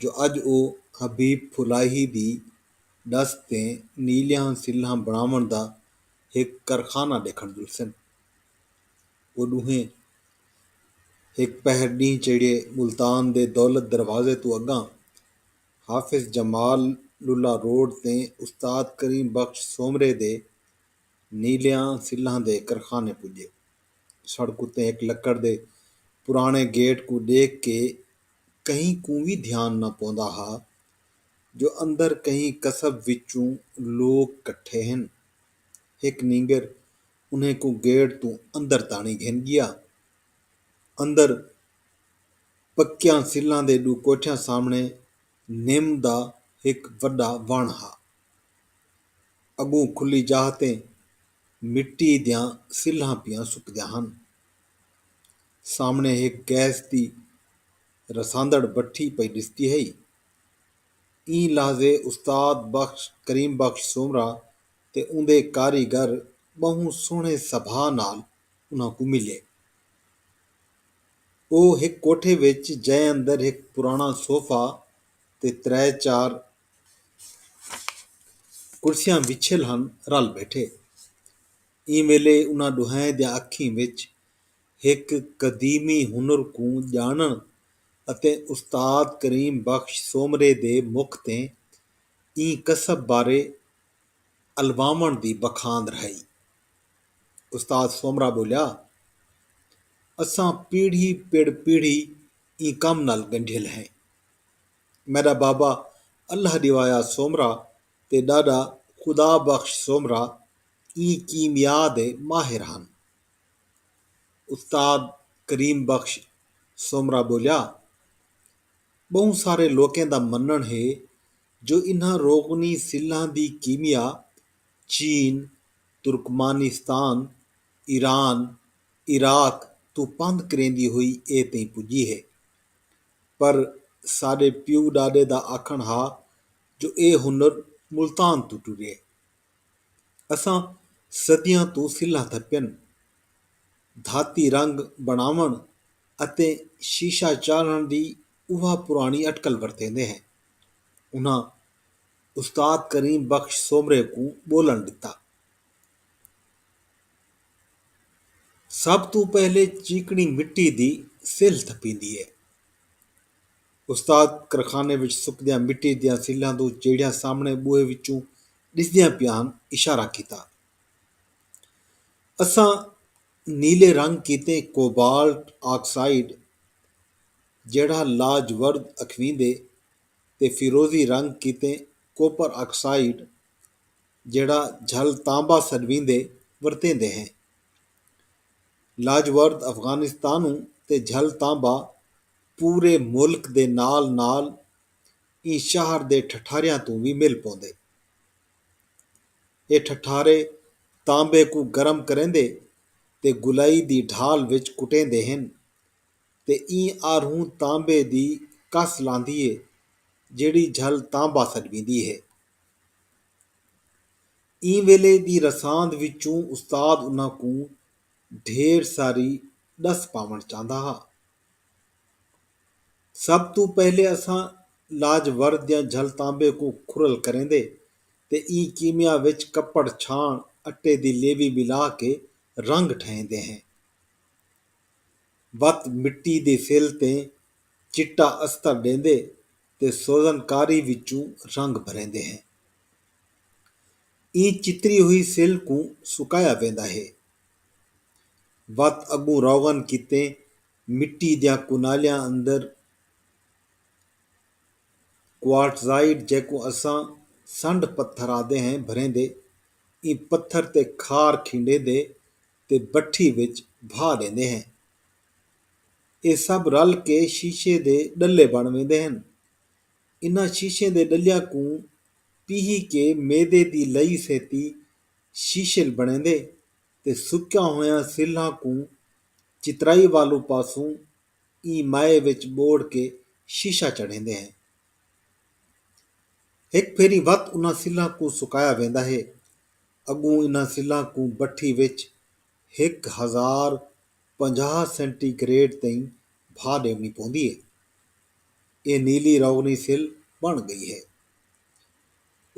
جو اڄ او حبیب پھلاہی دی ݙس تے نیلیاں سلھاں بݨاوݨ دا ہک کرخانہ ݙیکھݨ ڄلسن۔ او ݙوہیں ہک پہر ݙینہہ چڑھیے ملتان دے دولت دروازے توں اڳاں حافظ جمال للہ روڈ تے استاد کریم بخش سومرے دے نیلیاں سلھاں دے کرخانے پڄے۔ سڑک اتے ہک لکڑ دے پراݨے گیٹ کوں ݙیکھ کے کہیں کوں وی دھیان نہ پوندا ہا جو اندر کہیں قصب وچوں لوک کٹھے ہن۔ ہک نینگر انھیں کوں گیٹ توں اندر تاݨی گھن ڳیا۔ اندر پکیاں سلاں دے ݙو کوٹھیاں سامݨے نم دا ہک وݙا وݨ ہا۔ اڳوں کھلی جاہ تے مٹی دیاں سلھاں پیاں سکدیاں ہن۔ سامݨے ہک گیس دی رساندڑ بٹھی پئی ݙسدی ہئی۔ ایں لحظے استاد بخش، کریم بخش سومرا تے اوندے کاریگر ٻہوں سوہݨے سبھا نال انہاں کوں ملے۔ او ہک کوٹھے وچ جئے اندر ہک پراݨا صوفہ تے ترے چار کرسیاں وچھیل ہن، رل ٻیٹھے۔ ایں ویلے انہاں ݙوہائیں دیاں اکھیں وچ ہک قدیمی ہنر کوں ڄاݨݨ اتے استاد کریم بخش سومرے دے مکھ تے ایں کسب بارے الواوݨ دی بخاند رھائی۔ استاد سومرا ٻولیا، اساں پیڑھی پڑ پیڑھی ایں کم نال ڳنڈھیل ہیں۔ میݙا بابا اللہ ݙیوایا سومرا تے ݙاݙا خدا بخش سومرا ایں کیمیا دے ماہر ہن۔ استاد کریم بخش سومرا ٻولیا، ٻہوں سارے لوکیں دا منݨ ہے جو انہاں روغنی سلھاں دی کیمیا چین، ترکمانستان، ایران، عراق توں پندھ کریندی ہوئی اے تئیں پڄی ہے۔ پر ساݙے پیو ݙاݙے دا آکھݨ ہا جو اے ہنر ملتان توں ٹریے۔ اساں صدیاں توں سلھاں تھپن، دھاتی رنگ بݨاوݨ اتے شیشہ چاڑھݨ دی اوہا پراݨی اٹکل ورتیندے ہیں۔ انہاں استاد کریم بخش سومرے کوں ٻولݨ ݙتا۔ سب توں پہلے چیکݨی مٹی دی سلھ تھپیندی ہے۔ استاد کرخانے وچ سکدیاں مٹی دیاں سلھاں توں جیڑھیاں سامݨے ٻوہے وچوں ݙسدیاں پیاں ہن اشارہ کیتا۔ اساں نیلے رنگ کیتے کوبالٹ آکسائیڈ جیڑھا لاجورد اکھویندے تے فیروزی رنگ کیتے کوپر آکسائیڈ جیڑھا جھل تانبا سݙویندے ورتیندے ہیں۔ لاجورد افغانستانوں تے جھل تانبا پورے ملک دے نال نال ایں شہر دے ٹھٹھاریاں توں وی مل پوندے۔ اے ٹھٹھارے تانبے کوں گرم کریندے تے گلائی دی ڈھال وچ کٹیندے ہن تے ایں آرھوں تانبے دی کس لاندھی ہے جیڑھی جھل تانبا سݙویندی ہے۔ ایں ویلے دی رساند وچوں استاد انہاں کوں ڈھیر ساری ݙس پاوݨ چاہندا ہا۔ سب توں پہلے اساں لاج ور دیاں جھل تانبے کوں کھرل کریندے تے ایں کیمیا وچ کپڑ چھاݨ اٹے دی لیوی ملا کے رنگ ٹھہیندے ہیں وت مٹی دے فل تے چٹا استر ݙیندے تے سوزن کاری وچوں رنگ بھریندے ہیں ایں چتری ہوئی سل کوں سکایا ویندا ہے وت اڳوں روغن کیتے مٹی دیاں کنالیاں اندر کوارٹزائٹ جیکوں اساں سنڈ پتھر آہدے ہیں بھریندے ایں پتھر تے کھار کھنڈیندے تے بٹھی وچ بھا ݙیندے ہیں اے سب رل کے شیشے دے ݙلے بݨ ویندے ہن انہاں شیشے دے ݙلیاں کوں پیہی کے میدے دی لئی سیتی شیشل بݨیندے تے سکیاں ہویاں سلھاں کوں چترائی والوں پاسوں ایں مائے وچ ٻوڑ کے شیشہ چڑھیندے ہیں۔ ہک پھیری وت انہاں سلھاں کوں سکایا ویندا ہے۔ اڳوں انہاں سلھاں کوں بٹھی وچ ہک ہزار پنجاہ سینٹی گریڈ تئیں بھاہ ݙیوݨی پوندی ہے۔ اے نیلی روغنی سلھ بݨ ڳئی ہے۔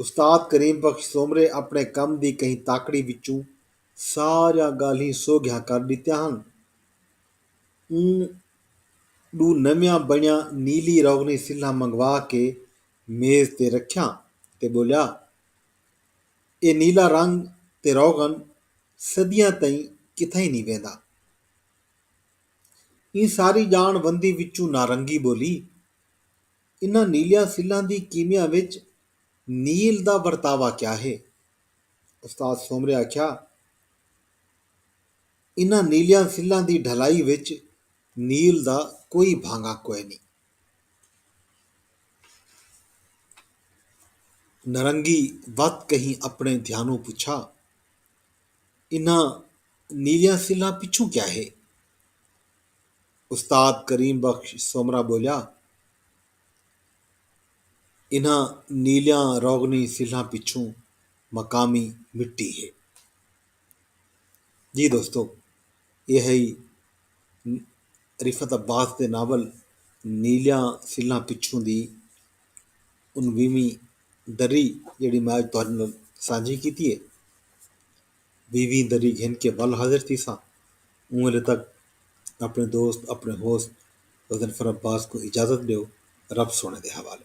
استاد کریم بخش سومرے اپݨے کم دی کہیں تاکڑی وچوں ساریاں ڳالھیں سوگھیاں کر ݙتیاں ہن۔ اوں ݙو نویاں بݨیاں نیلی روغنی سلھاں منگوا کے میز تے رکھیاں تے ٻولیا، اے نیلا رنگ تے روغن صدیاں تئیں کتھائیں نی ویندا۔ ایں ساری ڄاݨ وندی وچوں نارنگی ٻولی۔ انہاں نیلیاں سلاں دی کیمیا وچ نیل دا ورتاوا کیا ہے؟ استاد سومرے آکھیا انہاں نیلیاں سلاں دی ڈھلائی وچ نیل دا کوئی بھانگا کوئنی۔ نرنگی وت کہیں اپݨے دھیانوں پچھا انہاں نیلیاں سلاں پچھوں کیا ہے؟ استاد کریم بخش سومرا ٻولیا انہاں نیلیاں روغنی سلھاں پچھوں مقامی مٹی ہے۔ جی دوستو ایہ ہئی رفعت عباس دے ناول نیلیاں سلھاں پچھوں دی انویہویں دری جیہڑی میں اج تہاڈے نال سانجھی کیتی ہے۔ ویویں دری گھن کے ول حاضر تھیساں اوں ویلے تک اپݨے دوست اپݨے ہوست غضنفر عباس کوں اجازت ݙیو رب سوہݨے دے حوالے۔